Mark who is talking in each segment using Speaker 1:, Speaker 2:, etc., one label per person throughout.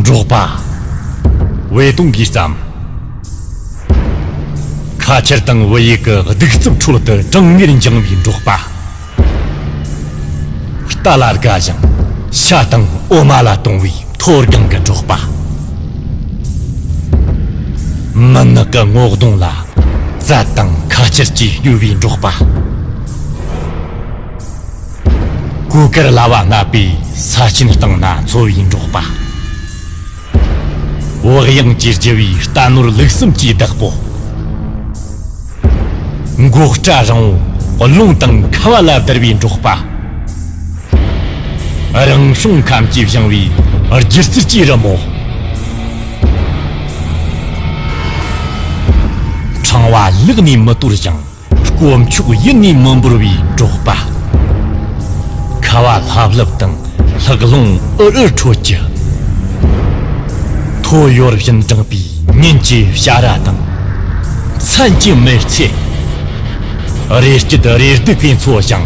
Speaker 1: འབྲོག་པ་བའི་སྟོང་གིས་བརྩམས། ཁ་ཆར་དང་བུ་ཡུག་གི་གདུག་རྩུབ་ཁྲོད་དུ་གྲང་ངར་འགྱངས་པའི་འབྲོག་པ། རྟ་ལ་དགའ་ཞིང་ཤ་དང་འོ་མ་ལ་དུང་བའི་མཐོ་སྒང་གི་འབྲོག་པ། མུན་ནག་གི་སྔོག་སྡོང་ལ་རྩལ་དང་ཁ་ཆར་གྱིས་སྐྱོ་བའི་འབྲོག་པ། གོས་དཀར་ལྭ་བ་ལྔ་པའི་ས་སྐྱིན་བཏང་ན་འཚོ་བའི་འབྲོག་པ། བག་ཡངས་ཀྱི་རྒྱུ་བའི་རྟ་ནོར་ལུག་གསུམ་གྱི་བདག་པོ། མགོ་སྐྲ་རིང་བོ་རླུང་དང་ཁ་བ་ལ་བསྡུར་བའི་འབྲོག་པ། རང་བྱུང་ཁམས་ཀྱིས་བཞེངས་བའི་སྒྱུ་རྩལ་གྱི་རི་མོ། ཕྲེང་བ་བསླུགས་ནས་མི་གཏོར་ཞིང། དཀོན་མཆོག་དབྱིངས་ནས་མི་འབོར་བའི་འབྲོག་པ། ཁ་བ་ལྷབ་ལྷུབ་དང་ལྷགས་རླུང་ཨུར་ཨུར་ཁྲོད་ཀྱི། ཐོ་ཡོར་བཞིན་དྲངས་པའི་ཉིན་གྱི་བྱ་ར་དང། མཚན་གྱི་མེར་ཚེ། རེ་སྐྱིད་རེ་སྡུག་གི་མཚོ་བྱང།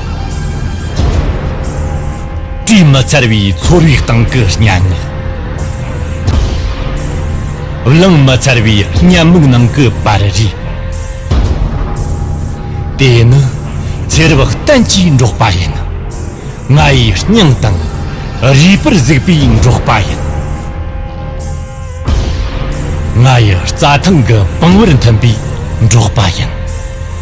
Speaker 1: དྲི་མ་འཚར་བའི་ཚོར་བའི་སྟེང་གི་སྙན་ངག། གླེང་མ་འཚར་བའི་སྙན་མིག་ནང་གི་པར་རིས། དེ་ནི་ཚེ་རབས་གཏན་གྱི་འབྲོག་པ་ཡིན། ང་ཡི་སྙིང་དང་རུས་པར་གཟིགས་པའི་འབྲོག་པ་ཡིན། ང་ཡི་རྩྭ་ཐང་གི་བང་བར་འཐིམས་པའི་འབྲོག་པ་ཡིན།